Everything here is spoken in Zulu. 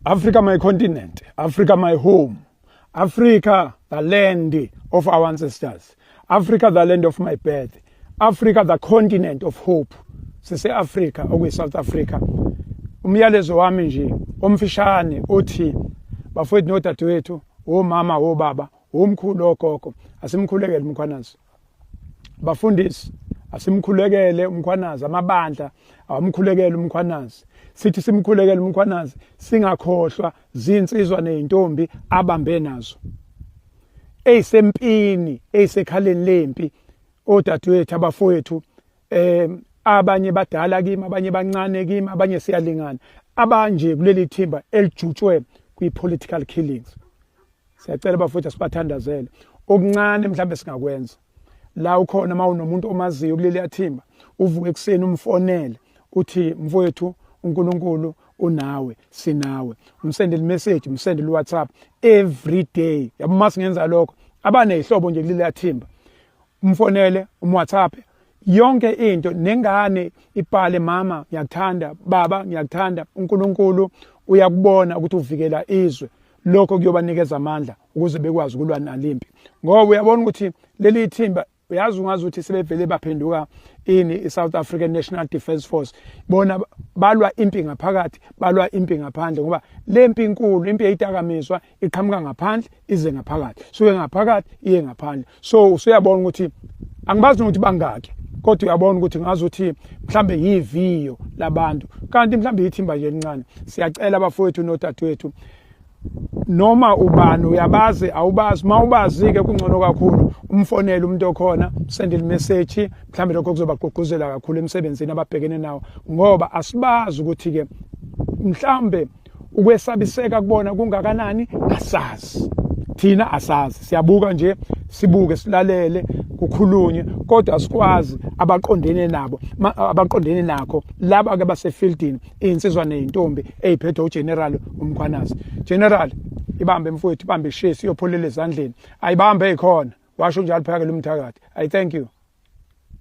Africa my continent, Africa my home, Africa the land of our ancestors, Africa the land of my birth, Africa the continent of hope. Sise Africa okwi South Africa. Umyalezo wami nje omfishane othi bafowethu nodadewethu, omama, obaba, omkhulu ogogo, asimkhulekele umkhwanazi. bafundisi asimkhulekele umkhwanazi amabandla awamkhulekele umkhwanazi sithi simkhulekele umkhwanazi singakhohlwa zinsizwa nezintombi abambe nazo eyisempini eyisekhaleni lempi odadewethu abafowethu eh abanye badala kimi abanye bancane kimi abanye siyalingana abanje kuleli thimba elijutshwe kwi political killings siyacela bafowethu asibathandazele okuncane mhlawumbe singakwenza la ukhona uma unomuntu omaziyo kuleliya thimba uvuke ekuseni umfonele uthi mfowethu uNkulunkulu unawe sinawe umsendele message umsendele WhatsApp every day yabo uma singenza lokho abanezihlobo nje kuleliya thimba umfonele umWhatsApp yonke into nengane ibhale mama ngiyakuthanda baba ngiyakuthanda uNkulunkulu uyakubona ukuthi uvikela izwe lokho kuyobanikeza amandla ukuze bekwazi ukulwa nalimpi ngoba uyabona ukuthi leli thimba uyazi ungazi ukuthi sebevele baphenduka ini i-south african national defence force bona balwa impi ngaphakathi balwa impi ngaphandle ngoba le mpi inkulu impi eyidakamizwa iqhamuka ngaphandle ize ngaphakathi suke ngaphakathi iye ngaphandle so usuyabona ukuthi angibazi nokuthi bangaki kodwa uyabona ukuthi ngazi ukuthi mhlambe yiviyo labantu kanti mhlambe yithimba nje elincane siyacela abafowethu nodadewethu noma ubani uyabazi awubazi uma ubazi-ke kungcono kakhulu umfonele umuntu okhona sendele imeseji mhlawumbe lokho kuzobagqugquzela kakhulu emsebenzini ababhekene nawo ngoba asibazi ukuthi-ke mhlawumbe ukwesabiseka kubona kungakanani asazi thina asazi siyabuka nje sibuke silalele kukhulunywe kodwa sikwazi abaqondene nabo abaqondene nakho laba ke basefieldini insizwa nezintombi eziphethe uGeneral uMkhwanazi General ibambe mfowethu ibambe shesi iyopholela ezandleni ayibambe ekhona washo njalo phakela umthakathi i thank you